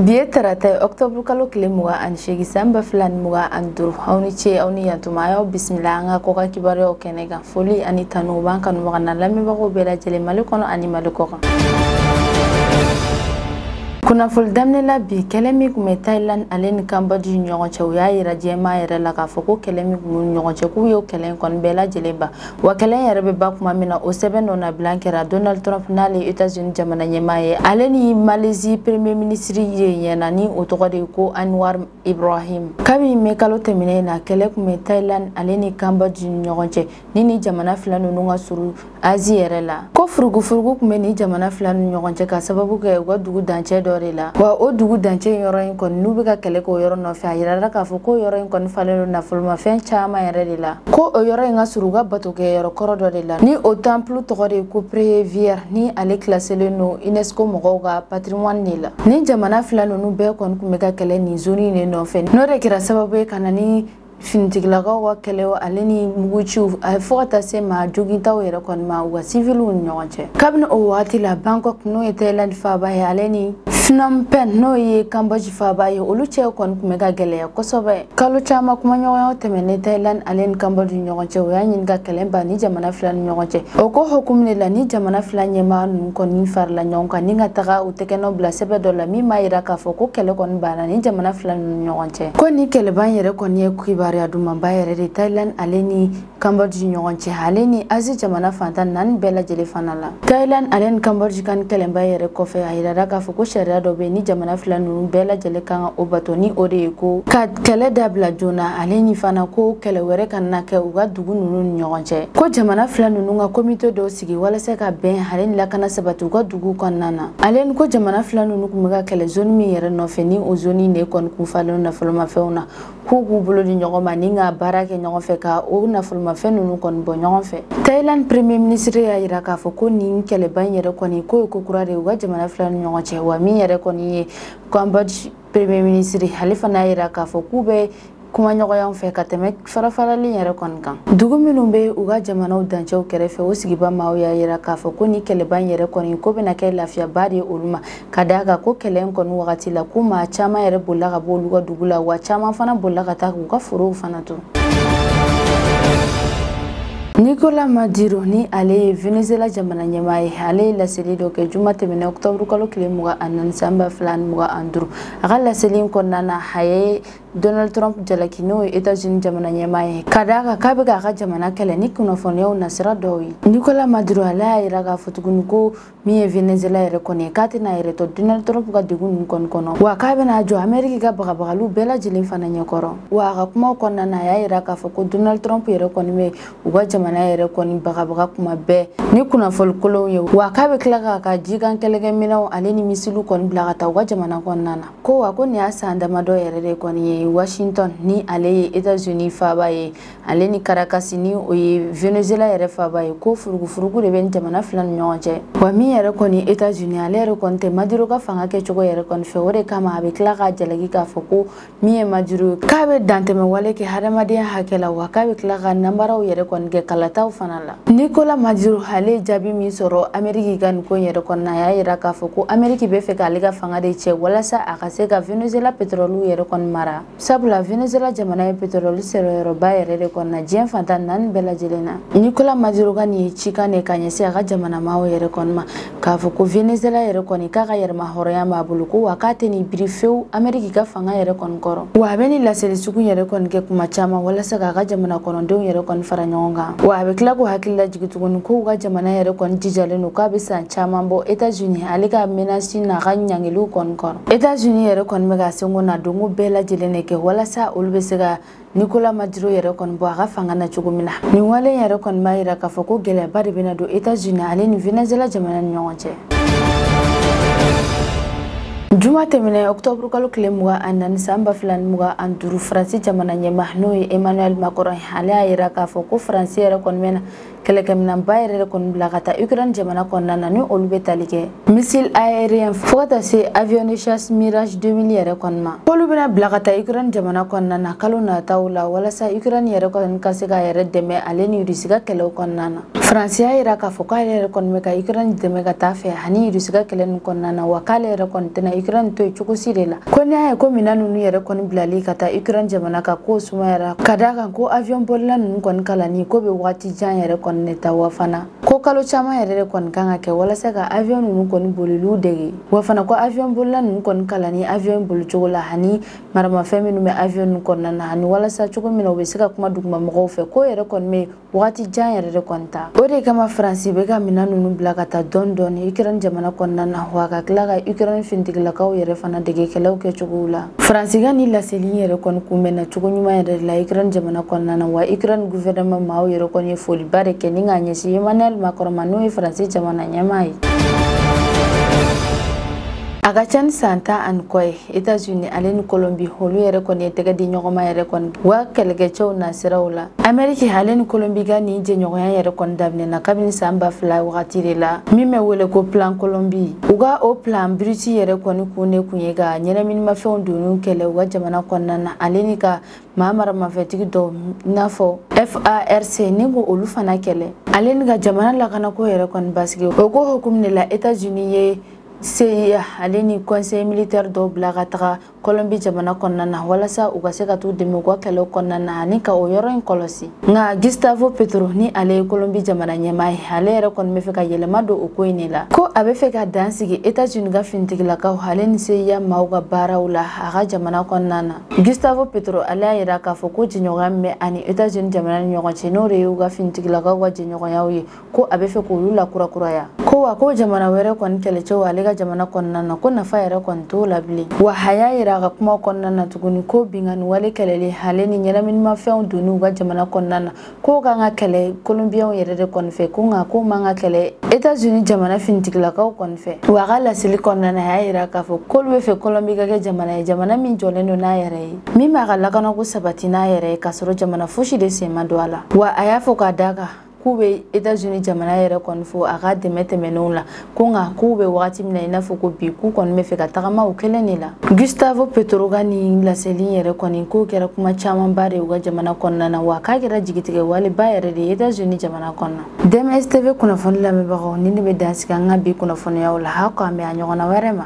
bi ye tarata ye ɔktɔburu kalo tile mugan ani seegin san ba fila ni mugan ani duuru aw ni ce aw ni yantuma a y'aw bisimila an ka kɔkan kibaruyaw kɛnɛ kan foli ani tanu b'an kanubaga n'an lamɛnbagaw bɛɛ lajɛlen mali kɔnɔ ani mali kɔ kan kunnafoli daminɛ la bi kɛlɛ min tun bɛ thailand ale ni cambodge ni ɲɔgɔn cɛ u y'a yira jɛma yɛrɛ la k'a fɔ ko kɛlɛ min tun b'u ni ɲɔgɔn cɛ k'u y'o kɛlɛ in kɔni bɛɛ lajɛlen ban wa kɛlɛ in yɛrɛ bɛ ban kuma min na o sɛbɛn nɔnabila kɛra donald trump n'ale ye etats-unis jamana ɲɛmaa ye ale ni malaisie premier ministre ye ɲɛna ni o tɔgɔ de ye ko anwar ibrahim kabini mɛ kalo tɛmɛnen na kɛlɛ tun bɛ thailand ale ni cambodge ni ɲɔgɔn cɛ ni nin jamana fila ninnu ka surun asie yɛrɛ la ko furugufurugu tun bɛ nin jamana fila ninnu ɲɔgɔn cɛ k'a sababu kɛ u ka dugu dancɛ dɔ de la wa o dugu dancɛ in yɔrɔ in kɔni n'u bɛ ka kɛlɛ k'o yɔrɔ nɔfɛ a yirala k'a fɔ k'o yɔrɔ in kɔni falen don nafolomafɛn caman yɛrɛ de la ko o yɔrɔ in ka surun u ka batokɛyɔrɔ kɔrɔ dɔ de la ni o temple tɔgɔ de ye ko preah vihear ni ale kilaselen don unesco mɔgɔw ka patrimoine de la nin jamana fila ninnu bɛɛ kɔni tun bɛ ka kɛlɛ nin zoni in de nɔfɛ n'o de kɛra sababu ye ka na ni finitigilakaw ka kɛlɛ ale ni muguciw a fo ka taa se maa jogintaw yɛrɛ kɔni ma u ka siviliw ni ɲɔgɔn cɛ kabini o wagati la bangkok n'o ye Thailand faaba ye ale ni Phnom Penh n'o ye Cambodge faaba ye olu cɛ kɔni tun bɛ ka gɛlɛya kosɛbɛ kalo caman kumaɲɔgɔnya tɛmɛnnen Thailand ale ni Cambodge ni ɲɔgɔn cɛ u y'a ɲini ka kɛlɛ ban nin jamana fila ni ɲɔgɔn cɛ o ko hukumu de la nin jamana fila ɲɛmaa ninnu kɔni farala ɲɔgɔn kan ni ka taga u tɛgɛnɔ bila sɛbɛn dɔ la min b'a yira k'a fɔ ko kɛlɛ kɔni banna nin jamana fila ninnu ɲɔgɔn cɛ ko nin kɛlɛban yɛrɛ kɔni ye kibaruya dumanba yɛrɛ de thailand ale ni cambodge ɲɔgɔn cɛ ale ni asie jamana fan tan ni naani bɛɛ lajɛlen fana la thailand ale ni cambodge ka nin kɛlɛban yɛrɛ kɔfɛ a yirara k'a fɔ ko sariya dɔ bɛ nin jamana fila ninnu bɛɛ lajɛlen kan ka o bato ni o de ye ko ka kɛlɛ dabila joona ale ni fana ko kɛlɛ wɛrɛ kana kɛ u ka dugu ninnu ni ɲɔgɔn cɛ ko jamana fila ninnu ka komite dɔ sigi walasa ka bɛn ale ni lakana sabati u ka dugu kɔnɔna na ale ni ko jamana fila ninnu tun bɛ ka kɛlɛ zoni min yɛrɛ nɔfɛ ni o zoni in de kɔni kun falen nafolomafɛnw na k'u k'u bolo di ɲɔgɔn ma ni ka baara kɛ ɲɔgɔn fɛ ka o nafolomafɛn ninnu kɔni bɔ ɲɔgɔn fɛ thailand premier ministre y'a yira k'a fɔ ko nin kɛlɛban yɛrɛ kɔni k'o ye ko kura de ye u ka jamana fila ninnu ɲɔgɔn cɛ wa min yɛrɛ kɔni ye cambodge premier ministre ale fana y'a yira k'a fɔ k'u bɛ kumaɲɔgɔnyaw fɛ ka tɛmɛ farafarali yɛrɛ kɔni kan dugu minnu bɛ u ka jamanaw dancɛw kɛrɛfɛ o sigiba maaw y'a yira k'a fɔ ko nin kɛlɛban yɛrɛ kɔni k'o bɛna kɛ lafiyaba de ye olu ma ka d'a kan ko kɛlɛ in kɔni wagati la ko maa caman yɛrɛ bolila ka bɔ olu ka dugu la wa caman fana bolila ka taa k'u ka forow fana to Nicolas Maduro ni ale ye Venezuela jamana ɲɛmaa ye ale ye laseli dɔ kɛ juma tɛmɛnɛ octobre kalo tile mugan ani naani san ba fila ani mugan ani duuru a ka laseli in kɔnɔna na a ye Donald Trump jalaki n'o ye Etats-Unis jamana ɲɛmaa ye ka d'a kan k'a bɛ k'a ka jamana kɛlɛ ni kunnafoniyaw nasira dɔw ye Nicolas Maduro ale y'a yira k'a fɔ tuguni ko min ye venezuela yɛrɛ kɔni ye k'a tɛn'a yɛrɛ to donald trump ka degun ninnu kɔni kɔnɔ wa k'a bɛna jɔ ameriki ka bagabagaliw bɛɛ lajɛlen fana ɲɛkɔrɔ wa a ka kumaw kɔnɔna na a y'a yira k'a fɔ ko donald trump yɛrɛ kɔni bɛ u ka jamana yɛrɛ kɔni bagabaga kuma bɛɛ ni kunnafoli kolonw ye wa k'a bɛ tila k'a ka jikan kɛlɛkɛminɛnw ale ni misiliw kɔni bila ka taa u ka jamana kɔnɔna na ko wa ko nin y'a san damadɔ yɛrɛ de kɔni ye washington ni ale ye etats unis faaba ye ale ni Caracas ni o ye Venezuela yɛrɛ faaba ye ko furugufurugu de bɛ jamana fila ni ɲɔgɔn cɛ wa min yɛrɛ kɔni États-Unis ale yɛrɛ kɔni tɛ Maduro ka fanga kɛcogo yɛrɛ kɔni fɛ o de kama a bɛ tila k'a jalaki k'a fɔ ko min ye Maduro k'a bɛ dantɛmɛ wale kɛ hadamadenya hakɛ la wa k'a bɛ tila ka nanbaraw yɛrɛ kɔni kɛ kalataw fana la Nicolas Maduro ale ye jaabi min sɔrɔ Amérique ka nin ko yɛrɛ kɔni na a y'a yira k'a fɔ ko Amérique bɛ fɛ k'ale ka fanga de cɛ walasa a ka se ka Venezuela pétrole yɛrɛ kɔni mara sabula venezuela jamana ye petroli sɔrɔyɔrɔba yɛrɛ de kɔnɔna diɲɛ fan tan ni naani bɛɛ lajɛlen na nicolas maduro ka nin ye cikan de ka ɲɛsin a ka jamana maaw yɛrɛ kɔni ma k'a fɔ ko venezuela yɛrɛ kɔni k'a ka yɛrɛmahɔrɔnya b'a bolo ko wa k'a tɛn'i biri fewu ameriki ka fanga yɛrɛ kɔni kɔrɔ wa a bɛ nin laseli sugu yɛrɛ kɔni kɛ kuma caman walasa k'a ka jamana kɔnɔdenw yɛrɛ kɔni fara ɲɔgɔn kan wa a bɛ tila k'u hakili lajigi tuguni k'u ka jamana yɛrɛ kɔni jijalen don k'a bɛ san caman bɔ etats unis ale ka menasi n'a ka ɲangiliw kɔni kɔrɔ États-Unis yɛrɛ kɔni bɛ k'a seko n'a dɔnko bɛɛ lajɛlen de kɛ walasa olu bɛ se ka Nicolas Maduro yɛrɛ kɔni bɔ a ka fanga na cogo min na nin wale in yɛrɛ kɔni b'a yira k'a fɔ ko gɛlɛyaba de bɛna don États-Unis ale ni Venezuela jamana ni ɲɔgɔn cɛ. Juma tɛmɛnɛ octobre kalo tile mugan ani naani san ba fila ni mugan ani duuru Faransi jamana ɲɛmaa n'o ye Emmanuel Macron ale y'a yira k'a fɔ ko Faransi yɛrɛ kɔni bɛna kɛlɛkɛminɛnba yɛrɛ de kɔni bila ka taa ukraine jamana kɔnɔna na ni olu bɛ tali kɛ missile aérien fo ka taa se avion de chasse mirage 2000 yɛrɛ kɔni ma k'olu bɛna bila ka taa ukraine jamana kɔnɔna na kalo nataw la walasa ukraine yɛrɛ kɔni ka se k'a yɛrɛ dɛmɛ ale ni rusi ka kɛlɛw kɔnɔna na faransi y'a yira k'a fɔ k'ale yɛrɛ kɔni bɛ ka ukraine dɛmɛ ka taa fɛ ani rusi ka kɛlɛ nin kɔnɔna na wa k'ale yɛrɛ kɔni tɛna ukraine to yen cogo si de la ko n'i y'a ye ko minɛn ninnu yɛrɛ kɔni bilali ka taa ukraine jamana ka ko sumayara ka d'a kan ko avion bolila ninnu kɔni kalanni ko bɛ waati jan yɛrɛ kɔni de ta wa fana ko kalo caman yɛrɛ de kɔni kan ka kɛ walasa ka avion ninnu kɔni boliliw dege wa fana ko avion bolila ninnu kɔni kalanni avion bolicogo la ani maramafɛn minnu bɛ avion ninnu kɔnɔna na ani walasa cogo min na u bɛ se ka kuma duguma mɔgɔw fɛ k'o yɛrɛ kɔni bɛ wagati jan yɛrɛ de kɔni ta o de kama faransi bɛ ka minɛn ninnu bila ka taa dɔɔni dɔɔni ukraine jamana kɔnɔna na wa ka tila ka ukraine finitigilakaw yɛrɛ fana dege kɛlɛw kɛcogow la faransi ka nin laseli yɛrɛ kɔni kunbɛnna cogo ɲuman yɛrɛ de la ukraine jamana kɔnɔna na wa ukraine guvɛrɛnma maaw yɛrɛ kɔni ye foliba de kɛ ni k'a ɲɛsin emmanuel macron ma n'o ye faransi jamana ɲɛmaa ye a ka ca ni san tan ani kɔ ye États-Unis ale ni Colombie olu yɛrɛ kɔni ye tɛgɛ di ɲɔgɔn ma yɛrɛ kɔni wa kɛlɛkɛcɛw nasiraw la Amérique ale ni Colombie ka nin jɛɲɔgɔnya yɛrɛ kɔni daminɛna kabini san ba fila wagati de la min bɛ wele ko plan Colombie u ka o plan Bruce yɛrɛ kɔni kun de kun ye ka ɲɛnaminimafɛnw donni kɛlɛ u ka jamana kɔnɔna na ale ni ka maa maramafɛntigi dɔw i n'a fɔ FARC ni k'olu fana kɛlɛ ale ni ka jamana lakanako yɛrɛ kɔni basigi o ko hukumu de la États-Unis ye CIA ale ni conseil militaire dɔw bila ka taga kɔlɔnbi jamana kɔnɔna na walasa u ka se ka t'u dɛmɛ u ka kɛlɛw kɔnɔna na ani ka o yɔrɔ in kɔlɔsi nka gustavo petro ni ale ye kɔlɔnbi jamana ɲɛmaa ye ale yɛrɛ kɔni bɛ fɛ ka yɛlɛma don o ko in de la ko a bɛ fɛ ka dan sigi etats unis ka finitigilakaw ale ni CIA maaw ka baaraw la a ka jamana kɔnɔna na gustavo petro ale y'a yira k'a fɔ ko jɛɲɔgɔnya min bɛ a ni etats unis jamana ni ɲɔgɔn cɛ n'o de ye u ka finitigilakaw ka jɛɲɔgɔnyaw ye ko a bɛ fɛ k'olu lakurakuraya ko wa ko jamana wɛrɛ kɔni kɛlɛcɛw ale ka jamana kɔnɔna na ko nafa yɛrɛ kɔni t'o la bilen wa a y'a yira a ka kuma kɔnɔna na tuguni ko binkanni wale kɛlɛli ale ni ɲɛnaminimafɛnw donni u ka jamana kɔnɔna na k'o kan ka kɛlɛ kolonbiyɛnw yɛrɛ de kɔni fɛ ko nka k'o man ka kɛlɛ etats-unis jamana finitigilakaw kɔni fɛ wa a ka laseli kɔnɔna na a y'a yira k'a fɔ k'olu bɛ fɛ kɔlɔnbi ka kɛ jamana ye jamana min jɔlen don n'a yɛrɛ ye min b'a ka lakanako sabati n'a yɛrɛ ye k'a sɔrɔ jamana fosi de sen ma don a la wa a y'a fɔ k'a d'a kan k'u bɛ etazini jamana yɛrɛ kɔni fo a ka dɛmɛ tɛmɛnenw la ko nka k'u bɛ wagati min na i n'a fɔ ko bi k'u kɔni bɛ fɛ ka tagama u kelen de la gustavo petro ka nin laseli yɛrɛ kɔni k'o kɛra kuma camanba de u ka jamana kɔnɔna na wa k'a kɛra jigitigɛ waleba yɛrɛ de ye etazini jamana kɔnɔna dms tv kunnafoni lamɛnbagaw nin de bɛ dan sigi an ka bi kunnafoniyaw la aw k'an bɛn a ɲɔgɔnna wɛrɛ ma